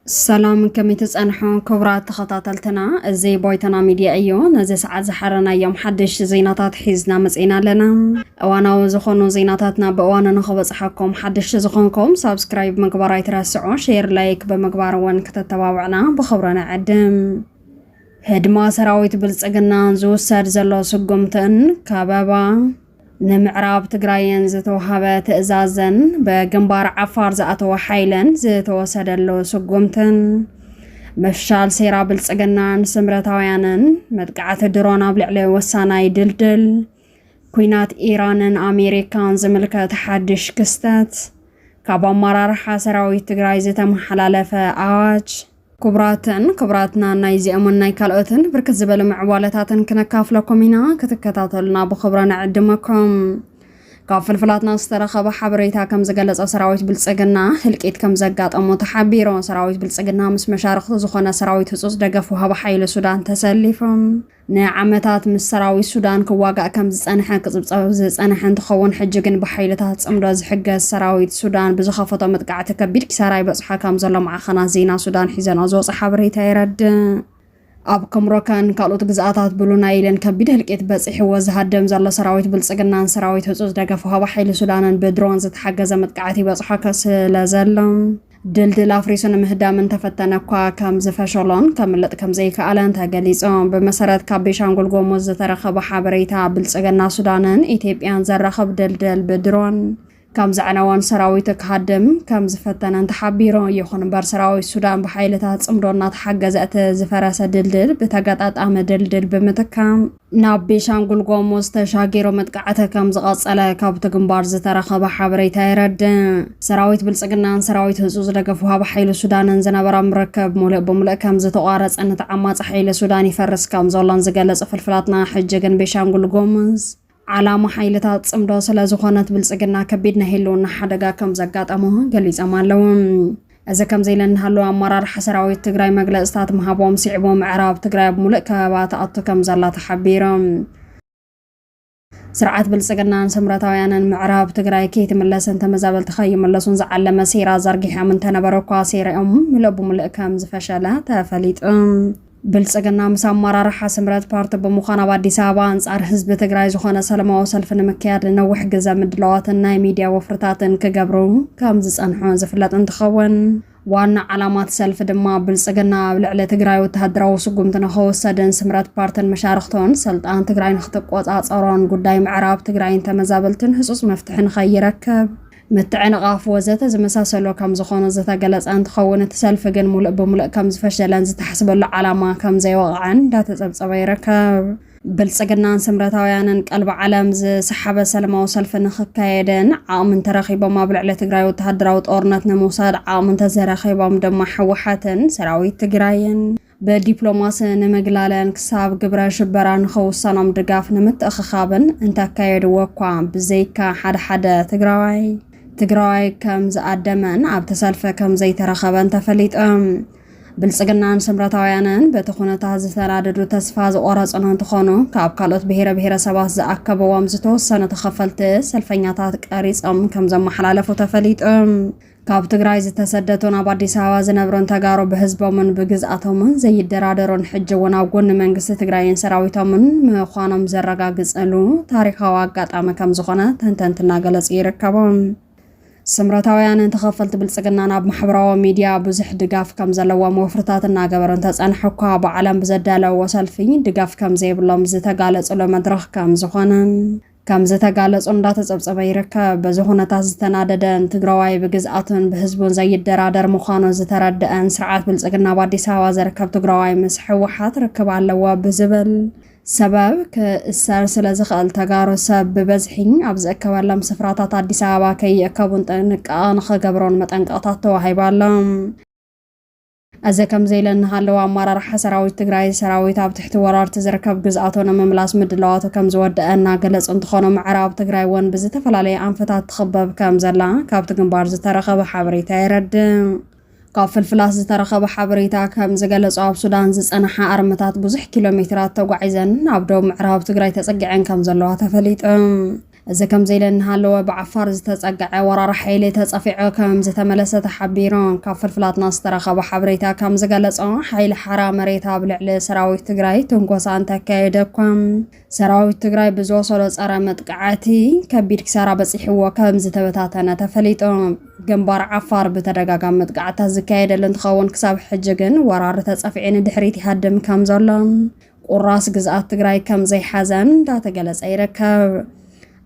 ሰላም ከመይ ትፀንሑ ክቡራት ተኸታተልትና፣ እዚ ቦይተና ሚድያ እዩ። ነዚ ሰዓት ዝሓረናዮም ሓደሽቲ ዜናታት ሒዝና መፅና ኣለና። እዋናዊ ዝኾኑ ዜናታትና ብእዋኑ ንኽበፅሓኩም ሓደሽቲ ዝኾንኩም ሳብስክራይብ ምግባር ኣይትረስዑ፣ ሼር ላይክ ብምግባር እውን ክተተባብዕና ብኽብሪ ንዕድም። ህድማ ሰራዊት ብልፅግናን ዝውሰድ ዘሎ ስጉምትን ከበባ ንምዕራብ ትግራይን ዝተውሃበ ትእዛዝን ብግንባር ዓፋር ዝኣተወ ሓይልን ዝተወሰደሉ ስጉምትን ምፍሻል ሴራ ብልፅግናን ስምረታውያንን መጥቃዕቲ ድሮን ኣብ ልዕሊ ወሳናይ ድልድል ኩናት ኢራንን ኣሜሪካን ዝምልከት ሓድሽ ክስተት ካብ ኣመራርሓ ሰራዊት ትግራይ ዝተመሓላለፈ ኣዋጅ ክቡራትን ክቡራትና ናይዚኦምን ናይ ካልኦትን ብርክት ዝበሉ ምዕባለታትን ክነካፍለኩም ኢና ክትከታተሉና ብክብረ ንዕድመኩም ካብ ፍልፍላትና ዝተረኸበ ሓበሬታ ከም ዝገለጸ ሰራዊት ብልጽግና ህልቂት ከም ዘጋጠሞ ተሓቢሩ ሰራዊት ብልጽግና ምስ መሻርክቱ ዝኾነ ሰራዊት ህጹጽ ደገፍ ውሃቢ ሓይሊ ሱዳን ተሰሊፎም ንዓመታት ምስ ሰራዊት ሱዳን ክዋጋእ ከም ዝጸንሐ ክጽብጸብ ዝጸንሐ እንትኸውን፣ ሕጂ ግን ብሓይልታት ጽምዶ ዝሕገዝ ሰራዊት ሱዳን ብዝኸፈቶ መጥቃዕቲ ከቢድ ኪሳራ ይበጽሖ ከም ዘሎ ማዕኸናት ዜና ሱዳን ሒዘንኦ ዝወጽኣ ሓበሬታ የረድእ። ኣብ ከምሮከን ካልኦት ግዝኣታት ብሉ ናይልን ከቢድ ህልቂት በጺሕዎ ዝሃድም ዘሎ ሰራዊት ብልጽግናን ሰራዊት ህጹጽ ደገፍ ወሃቢ ሓይሊ ሱዳንን ብድሮን ዝተሓገዘ መጥቃዕቲ ይበጽሖ ስለዘሎ፣ ድልድል ኣፍሪሱ ንምህዳም እንተፈተነ እኳ ከም ዝፈሸሎን ከምልጥ ከም ዘይከኣለን ተገሊጹ። ብመሰረት ካብ ቤሻንጉል ጎሙዝ ዝተረኸበ ሓበሬታ፣ ብልጽግና ሱዳንን ኢትዮጵያን ዘራኽብ ድልድል ብድሮን ከም ዘዕነወን ሰራዊቱ ክሃድም ከም ዝፈተነን ተሓቢሩ። ይኹን እምበር ሰራዊት ሱዳን ብሓይልታት ጽምዶ እናተሓገዘ እቲ ዝፈረሰ ድልድል ብተገጣጣሚ ድልድል ብምትካም ናብ ቤሻንጉል ጎሙዝ ተሻጊሩ መጥቃዕቲ ከም ዝቐጸለ ካብቲ ግንባር ዝተረኸበ ሓበሬታ የረድእ። ሰራዊት ብልጽግናን ሰራዊት ህጹ ዝደገፍ ውሃቢ ሓይሊ ሱዳንን ዝነበሮም ርክብ ሙሉእ ብምሉእ ከም ዝተቋረጸን እቲ ዓማጺ ሓይሊ ሱዳን ይፈርስ ከም ዘሎን ዝገለጹ ፍልፍላትና ሕጂ ግን ቤሻንጉል ጎሙዝ ዓላማ ሓይልታት ጽምዶ ስለ ዝኾነት ብልጽግና ከቢድ ናይ ህልውና ሓደጋ ከም ዘጋጠሞ ገሊጾም ኣለዉ። እዚ ከምዚ ኢለ እናሃለወ ኣመራርሓ ሰራዊት ትግራይ መግለፅታት ምሃቦም ስዒቡ ምዕራብ ትግራይ ኣብ ሙሉእ ከበባ ትኣቱ ከምዘላ ተሓቢሮም። ስርዓት ብልፅግናን ስምረታውያንን ምዕራብ ትግራይ ከይትምለስን ተመዛበልቲ ከይምለሱን ዝዓለመ ሴራ ዘርጊሖም እንተነበረ እኳ ሴረኦም ሙሉእ ብሙሉእ ከምዝፈሸለ ተፈሊጡ። ብልፅግና ምስ ኣመራርሓ ስምረት ፓርቲ ብምዃን ኣብ ኣዲስ ኣበባ ኣንፃር ህዝቢ ትግራይ ዝኾነ ሰለማዊ ሰልፊ ንምክያድ ንነዊሕ ግዘ ምድላዋትን ናይ ሚድያ ወፍርታትን ክገብሩ ከምዝፀንሑ ዝፍለጥ እንትኸውን ዋና ዓላማ እቲ ሰልፊ ድማ ብልፅግና ኣብ ልዕሊ ትግራይ ወተሃደራዊ ስጉምቲ ንኸወሰድን ስምረት ፓርትን መሻርኽቶን ስልጣን ትግራይ ንክትቆፃፀሮን ጉዳይ ምዕራብ ትግራይን ተመዛበልትን ህፁፅ መፍትሒ ንኸይረክብ ምትዕንቓፍ ወዘተ ዝመሳሰሎ ከምዝኾኑ ዝተገለፀ እንትኸውን እቲ ሰልፊ ግን ሙሉእ ብሙሉእ ከምዝፈሸለን ዝተሓስበሉ ዓላማ ከምዘይወቕዐን እንዳተፀብፀበ ይርከብ። ብልፅግናን ስምረታውያንን ቀልቢ ዓለም ዝሰሓበ ሰለማዊ ሰልፊ ንክካየድን ዓቕሚ እንተረኺቦም ኣብ ልዕሊ ትግራይ ወተሃደራዊ ጦርነት ንምውሳድ ዓቕሚ እንተዘረኺቦም ድማ ህወሓትን ሰራዊት ትግራይን ብዲፕሎማሲ ንምግላለን ክሳብ ግብረ ሽበራ ንኸውሰኖም ድጋፍ ንምትእኽኻብን እንተካየድዎ እኳ ብዘይካ ሓደ ሓደ ትግራዋይ ትግራዋይ ከም ዝኣደመን ኣብቲ ሰልፊ ከም ዘይተረኸበን ተፈሊጡ። ብልፅግናን ስምረታውያንን በቲ ኩነታት ዝተናደዱ ተስፋ ዝቖረፁን እንትኾኑ ካብ ካልኦት ብሄረ ብሄረሰባት ዝኣከበዎም ዝተወሰኑ ተኸፈልቲ ሰልፈኛታት ቀሪፆም ከም ዘመሓላለፉ ተፈሊጡ። ካብ ትግራይ ዝተሰደቱን ኣብ ኣዲስ ኣበባ ዝነብሩን ተጋሩ ብህዝቦምን ብግዝኣቶምን ዘይደራደሩን ሕጂ እውን ኣብ ጎኒ መንግስቲ ትግራይን ሰራዊቶምን ምዃኖም ዘረጋግፅሉ ታሪኻዊ ኣጋጣሚ ከም ዝኾነ ተንተንቲ እናገለፁ ይርከቡ። ስምረታውያንን ተኸፈልቲ ብልፅግናን ኣብ ማሕበራዊ ሚድያ ብዙሕ ድጋፍ ከም ዘለዎም ወፍርታት እናገበሩ እንተፀንሐ እኳ ብዓለም ብዘዳለዎ ሰልፊ ድጋፍ ከም ዘይብሎም ዝተጋለፅሉ መድረኽ ከም ዝኾነን ከም ዝተጋለጾ እንዳተጸብጸበ ይርከብ። በዚ ኩነታት ዝተናደደን ትግራዋይ ብግዝኣቱን ብህዝቡን ዘይደራደር ምዃኑ ዝተረደኣን ስርዓት ብልጽግና ኣብ ኣዲስ ኣበባ ዝርከብ ትግራዋይ ምስ ሕወሓት ርክብ ኣለዎ ብዝብል ሰበብ ክእሰር ስለ ዝኽእል ተጋሩ ሰብ ብበዝሒ ኣብ ዝእከበሎም ስፍራታት ኣዲስ ኣበባ ከይእከቡን ጥንቃቐ ንኽገብሩን መጠንቀቕታት ተዋሂቡ ኣሎ። እዚ ከምዚ ኢለ እንሃለወ ኣመራርሓ ሰራዊት ትግራይ ሰራዊት ኣብ ትሕቲ ወራርቲ ዝርከብ ግዝኣቶ ንምምላስ ምድላዋቱ ከምዝወደኣ እናገለፁ እንትኾኑ ምዕራብ ትግራይ ወን ብዝተፈላለየ ኣንፈታት ትኽበብ ከምዘላ ካብቲ ግንባር ዝተረኸበ ሓበሬታ የረድእ። ካብ ፍልፍላት ዝተረኸበ ሓበሬታ ከም ዝገለጾ ኣብ ሱዳን ዝጸንሓ ኣርምታት ብዙሕ ኪሎ ሜትራት ተጓዒዘን ናብ ዶብ ምዕራብ ትግራይ ተጸጊዐን ከም ዘለዋ ተፈሊጡ። እዚ ከምዚ ኢለ እናሃለወ ብዓፋር ዝተፀገዐ ወራሪ ሓይሊ ተፀፊዑ ከምዝተመለሰ ተሓቢሩ። ካብ ፍልፍላትና ዝተረኸበ ሓበሬታ ከምዝገለፆ ሓይሊ ሓራ መሬት ኣብ ልዕሊ ሰራዊት ትግራይ ትንኮሳ እንተካየደ እኳ ሰራዊት ትግራይ ብዝወሰዶ ፀረ መጥቃዕቲ ከቢድ ክሳራ በፂሕዎ ከምዝተበታተነ ተፈሊጡ። ግንባር ዓፋር ብተደጋጋሚ መጥቃዕትታት ዝካየደሉ እንትኸውን ክሳብ ሕጂ ግን ወራሪ ተፀፊዑ ንድሕሪት ይሃድም ከምዘሎ ቁራስ ግዝኣት ትግራይ ከም ዘይሓዘን እንዳተገለጸ ይርከብ።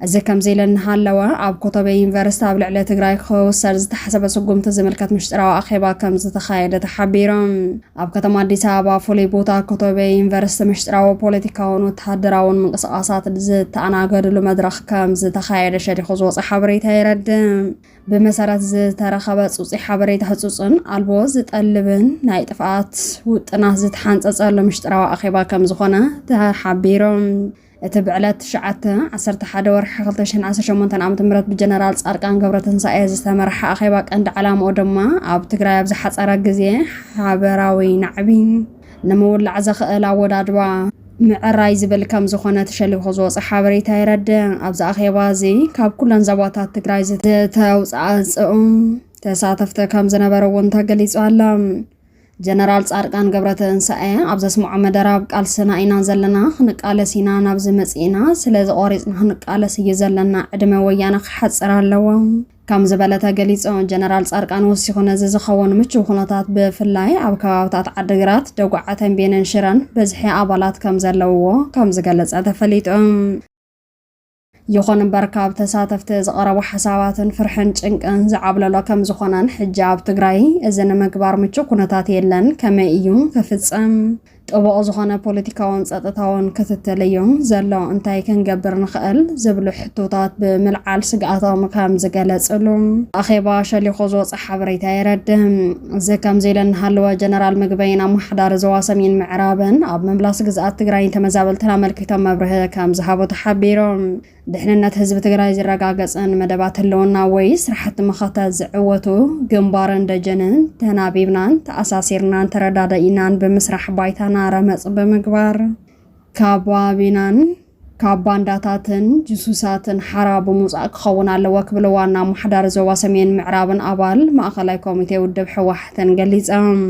እዚ ከምዚ ኢለ እናሃለወ ኣብ ኮተቤ ዩኒቨርስቲ ኣብ ልዕሊ ትግራይ ክውሰድ ዝተሓሰበ ስጉምቲ ዝምልከት ምሽጥራዊ ኣኼባ ከም ዝተኻየደ ተሓቢሩ። ኣብ ከተማ ኣዲስ ኣበባ ፍሉይ ቦታ ኮተቤ ዩኒቨርስቲ ምሽጥራዊ ፖለቲካውን ወተሃደራውን ምንቅስቓሳት ዝተኣናገድሉ መድረኽ ከም ዝተኻየደ ሸዲኹ ዝወፀ ሓበሬታ የረድእ። ብመሰረት ዝተረኸበ ፅፁይ ሓበሬታ ህፁፅን ኣልቦ ዝጠልብን ናይ ጥፍኣት ውጥናት ዝተሓንፀፀሉ ምሽጥራዊ ኣኼባ ከም ዝኾነ ተሓቢሮም እቲ ብዕለት 9 11 ወርሒ 2018 ዓ ም ብጀነራል ፃድቃን ገብረትንሳኤ ዝተመርሐ ኣኼባ ቀንዲ ዓላምኡ ድማ ኣብ ትግራይ ኣብ ዝሓፀረ ግዜ ሓበራዊ ናዕቢ ንምውላዕ ዘኽእል ኣወዳድባ ምዕራይ ዝብል ከም ዝኾነ ተሸሊኹ ዝወፀ ሓበሬታ የረድእ። ኣብዚ ኣኼባ እዚ ካብ ኩለን ዘባታት ትግራይ ዝተውፃእፅኡ ተሳተፍቲ ከም ዝነበሩ እውን ተገሊፁ ኣሎ። ጀነራል ጻድቃን ገብረትንሳኤ ኣብ ዘስምዖ መደረ ኣብ ቃልስና ኢና ዘለና ክንቃለስ ኢና ናብዚ መጺእና ስለዚ ቆሪጽና ክንቃለስ እዩ ዘለና ዕድመ ወያነ ክሓጽር ኣለዎ ከምዝበለተ ገሊጹ። ጀነራል ጻድቃን ወሲኹ ነዚ ዝኸውን ምቹው ኩነታት ብፍላይ ኣብ ከባብታት ዓዲግራት፣ ደጉዓ፣ ተምቤንን ሽረን ብዝሒ ኣባላት ከምዘለውዎ ከምዝገለጸ ተፈሊጡ። ይኹን እምበር ካብ ተሳተፍቲ ዝቐረቡ ሓሳባትን ፍርሕን ጭንቅን ዝዓብለሎ ከምዝኾነን ሕጂ ኣብ ትግራይ እዚ ንምግባር ምቹው ኩነታት የለን ከመይ እዩ ክፍጸም ጥቡቕ ዝኾነ ፖለቲካውን ጸጥታውን ክትትል'ዩ ዘሎ፣ እንታይ ክንገብር ንኽእል ዝብሉ ሕቶታት ብምልዓል ስግኣቶም ከም ዝገለጽሉ ኣኼባ ሸሊኹ ዝወጸ ሓበሬታ የረድእ። እዚ ከምዚ ኢሉ እናሃለወ ጀነራል ምግበይን ኣመሓዳሪ ዞባ ሰሜን ምዕራብን ኣብ ምምላስ ግዝኣት ትግራይን ተመዛበልትን ኣመልኪቶም መብርሂ ከም ዝሃቡ ተሓቢሩ። ድሕንነት ህዝቢ ትግራይ ዝረጋገፅን መደባት ህልውና ወይ ስራሕቲ መኸተ ዝዕወቱ ግንባርን ደጀንን ተናቢብናን ተኣሳሲርናን ተረዳዳኢናን ብምስራሕ ባይታና ረመፅ ብምግባር ካባቢናን ካብ ባንዳታትን ጅሱሳትን ሓራ ብምውፃእ ክኸውን ኣለዎ ክብሉ ዋና ኣማሓዳሪ ዞባ ሰሜን ምዕራብን ኣባል ማእኸላይ ኮሚቴ ውድብ ሕወሓትን ገሊፆም።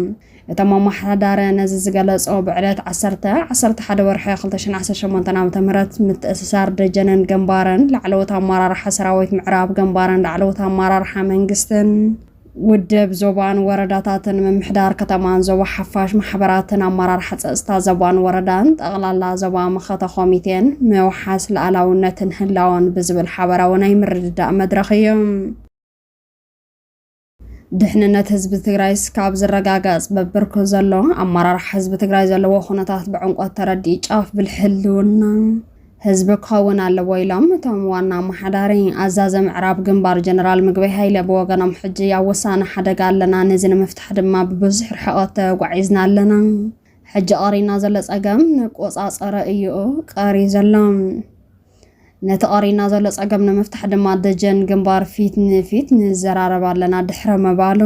እቶም ኣመሓዳሪ ነዚ ዝገለጾ ብዕለት ዓሰርተ ዓሰርተ ሓደ ወርሒ ክልተ ሽሕን ዓሰርተ ሸሞንተን ዓመተ ምህረት ምትእስሳር ደጀንን ግንባርን ላዕለዎት ኣመራርሓ ሰራዊት ምዕራብ ግንባርን ላዕለዎት ኣመራርሓ መንግስትን ውድብ ዞባን ወረዳታትን ምምሕዳር ከተማን ዞባ ሓፋሽ ማሕበራትን ኣመራርሓ ፀፅታ ዞባን ወረዳን ጠቕላላ ዞባ መኸተ ኮሚቴን ምውሓስ ላእላውነትን ህላወን ብዝብል ሓበራዊ ናይ ምርድዳእ መድረኽ እዩ። ድሕንነት ህዝቢ ትግራይ እስካብ ዝረጋገፅ በብርኩ ዘሎ ኣመራርሓ ህዝቢ ትግራይ ዘለዎ ኩነታት ብዕምቆት ተረዲኡ ጫፍ ብልሒ ህልውና ህዝቢ ክኸውን ኣለዎ ኢሎም እቶም ዋና ኣመሓዳሪ ኣዛዘ ምዕራብ ግንባር ጀነራል ምግበይ ሃይለ ብወገኖም ሕጂ ኣብ ወሳኒ ሓደጋ ኣለና ነዚ ንምፍታሕ ድማ ብብዙሕ ርሕቐት ተጓዒዝና ኣለና ሕጂ ቀሪና ዘሎ ፀገም ንቆፃፀረ እዩ ቀሪ ዘሎ ነቲ ቀሪና ዘሎ ጸገም ንምፍታሕ ድማ ደጀን ግንባር ፊት ንፊት ንዘራረብ ኣለና ድሕረ ምባሉ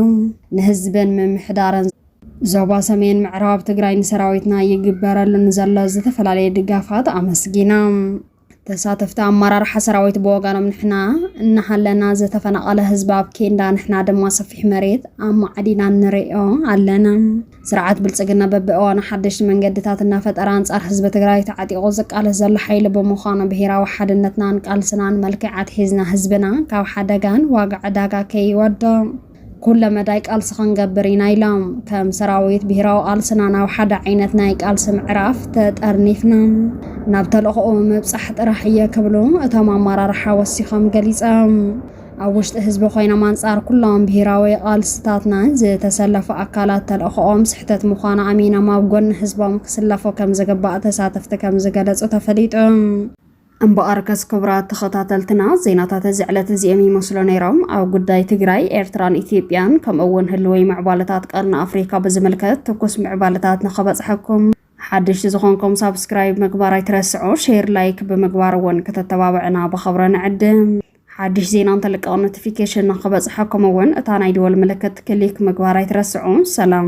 ንህዝብን ምምሕዳርን ዞባ ሰሜን ምዕራብ ትግራይ ንሰራዊትና ይግበረሉ ንዘሎ ዝተፈላለየ ድጋፋት ኣመስጊና። ተሳተፍቲ ኣመራርሓ ሰራዊት ብወገኖም ንሕና እናሃለና ዝተፈናቐለ ህዝቢ ኣብ ኬንዳ ንሕና ድማ ሰፊሕ መሬት ኣማዕዲና ንርእዮ ኣለና ስርዓት ብልፅግና በቢእዋኑ ሓደሽቲ መንገድታት እናፈጠረ ኣንፃር ህዝቢ ትግራይ ተዓጢቑ ዝቃለስ ዘሎ ሓይሊ ብምዃኑ ብሄራዊ ሓድነትናን ቃልስናን መልክዕ ኣትሒዝና ህዝብና ካብ ሓደጋን ዋጋ ዕዳጋ ከይወድቕ ኩለ መዳይ ቃልሲ ክንገብር ኢና ኢሎም። ከም ሰራዊት ብሄራዊ ቃልስና ናብ ሓደ ዓይነት ናይ ቃልሲ ምዕራፍ ተጠርኒፍና ናብ ተልእኾኡ ምብፃሕ ጥራሕ እየ ክብሉ እቶም ኣመራርሓ ወሲኾም ገሊፆም። ኣብ ውሽጢ ህዝቢ ኮይኖም ኣንጻር ኩሎም ብሄራዊ ቃልስታትናን ዝተሰለፉ ኣካላት ተልእኾኦም ስሕተት ምዃኑ ኣሚኖም ኣብ ጎኒ ህዝቦም ክስለፉ ከምዝግባእ ተሳተፍቲ ከምዝገለጹ ተፈሊጡ። እምበኣርከስ ክቡራት ተኸታተልትና ዜናታት እዚ ዕለት እዚኦም ይመስሉ ነይሮም። ኣብ ጉዳይ ትግራይ፣ ኤርትራን ኢትዮጵያን ከምኡ እውን ህልዊ ምዕባለታት ቀርኒ ኣፍሪካ ብዝምልከት ትኩስ ምዕባለታት ንኸበጽሐኩም ሓደሽቲ ዝኾንኩም ሳብስክራይብ ምግባር ኣይትረስዑ፣ ሼር ላይክ ብምግባር እውን ከተተባብዕና ብኸብረ ንዕድም። ሓድሽ ዜና እንተልቀቕ ኖቲፊኬሽን ንክበፅሐኩም እውን እታ ናይ ደወል ምልክት ክሊክ ምግባር ኣይትረስዑ። ሰላም